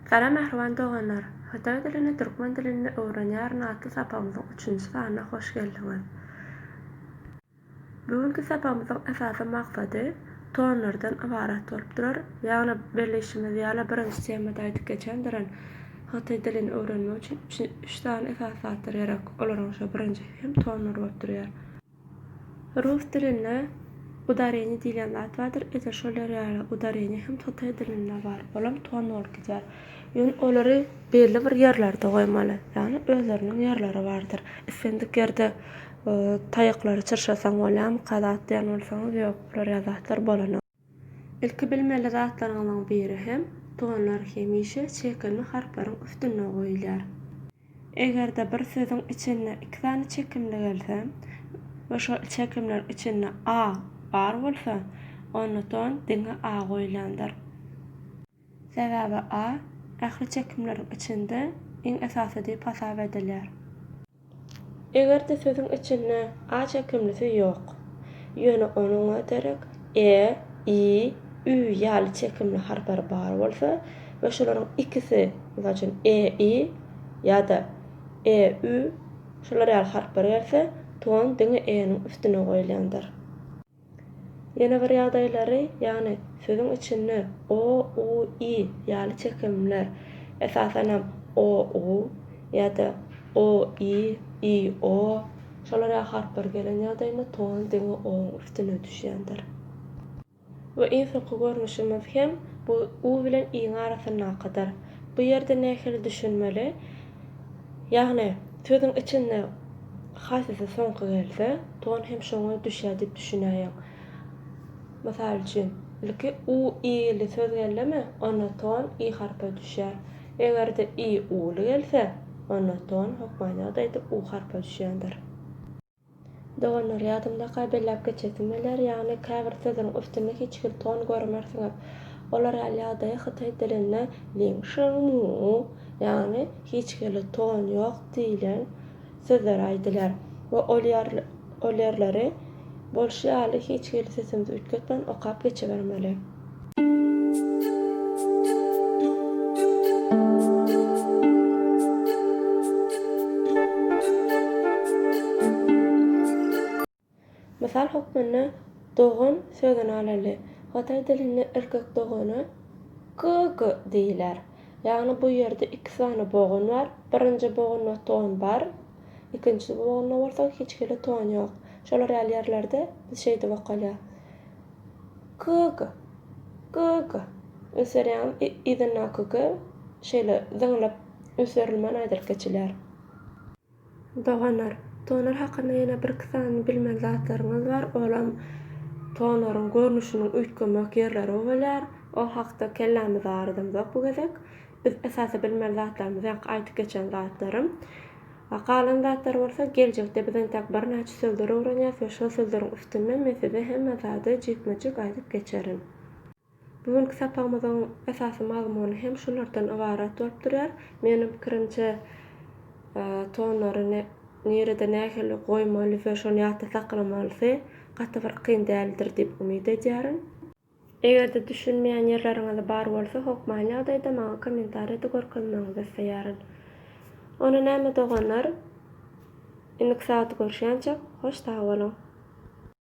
Salam mähriban doganlar! Hytaý dilini türkmen dilinde öwrenýärin atly sapagymyzyň üçünji sanyna hoş geldiňiz! Bu günki sapagymyzyň esasy maksady tonlardan ybarat bolup durar, ýagny bellişimiz ýaly birinji temada aýdyp geçendirin, hytaý dilini öwrenmek üçin üç sany esasy zatlar gerek, olaryň şo birinjisi hem tonlar bolup durýar. Rus dilinde udareniýe diýlen zat bardyr, edil şolar ýaly udareniýe hem totaý dilinde bar, olam ton bolup gidýär. Ýöne olary belli bir ýerlerde goýmaly, ýagny özleriniň ýerleri bardyr. Islendik ýerde taýaklary çyrşasaň bolýarmyka zat diýen bolsaňyz, ýok, bular ýaly zatlar bolanok. Ilki bilmeli zatlaryňyzyň biri hem, tonlar hemişe çekimli harplaryň üstünde goýulýar. Eger-de bir sözüň içinde iki sany çekimli gelse we şol çekimler içinde a bar bolsa, onda ton diňe a goýulandyr. Sebäbi a ähli çekimleriň içinde iň esasy diýip hasap edilýär. Eger-de sözüň içinde a çekimlisi ýok, ýöne onuňa derek e, i, ü ýaly çekimli harplar bar bolsa we şolaryň ikisi, mysal üçin, e, i ýa-da e, ü, şular ýaly harplar gelse, ton diňe e-niň üstüne goýulýandyr. Ýene bir ýagdaýlary, ýagny sözüň içinde o, u, i ýaly çekimler, esasanam o, u ýa-da o, i, i, o, şolar ýaly harplar gelen ýagdaýynda ton diňe o-nyň üstüne düşýändir. We iň soňky görnüşimiz hem bu u bilen i-niň arasyndakydyr. Bu ýerde nähili düşünmeli? Ýagny, sözüň içinde haýsysy soňky gelse, ton hem şoňa düşýär diýip düşünäýeň. Mysal üçin, ilki u, i li söz geldimi, onda ton i harpa düşýär. Eger-de i, u li gelse, onda ton, hökman ýagdaýda, u harpa düşýändir. Doganlar, ýadyňdaka belläp geçesim geler, ýagny käbir sözüň üstünde hiç hil ton görmersiňiz. Olar ýaly ýagdaýa hytaý dilinde ling sheng mu, ýagny hiç hili ton ýok diýlen sözler aýdylýar we ol ol ýerleri bolşy ýaly hiç hili sesimizi üýtgetmän okap geçibermeli. Mysal hökmünde dogan sözüni alaly. Hytaý dilinde erkek dogana ge ge diýiler. Ýagny bu ýerde iki sany bogun bar, birinji bogunda ton bar, ikinji bogunda bolsa hiç hili ton ýok. Şolar ýaly ýerlerde biz şeýdip okalýas. Kk. Kk. Öserýäňiz yzynda kk. Şeýle zyňlyp öserilmän aýdylyp geçilýär. Doganlar, tonar hakynda ýene birki sany bilmeli zatlaryňyz bar, olam tonaryň görnüşiniň üýtgemek ýerleri bolýar. Ol hakda kellämizi aryzamzok bu gezek. Biz esasy bilmeli zatlarymyz ýaňky aýdyp geçen zatlarym. A galan zatlar bolsa geljekde biz entäk birnäçe sözler öwrenýäs we şol sözleriň üstünden men size hemme zady jikme-jik aýdyp geçerin. Bu günki sapagymyzyň esasy mazmuny hem şulardan ybarat bolup durýar. Meniň pikirimçe tonlary nirede nähili goýmaly we şony ýatda saklamalysy gaty bir kyn däldir diýip umyt edýärin. Eger-de düşünmeýän ýerleriňiz bar bolsa hokmaýan ýagdaýda maňa kommentariýada görkezmegiňizi isleýärin. Onda näme doganlar indiki sagaty görüşýänçäk hoş sag boluň.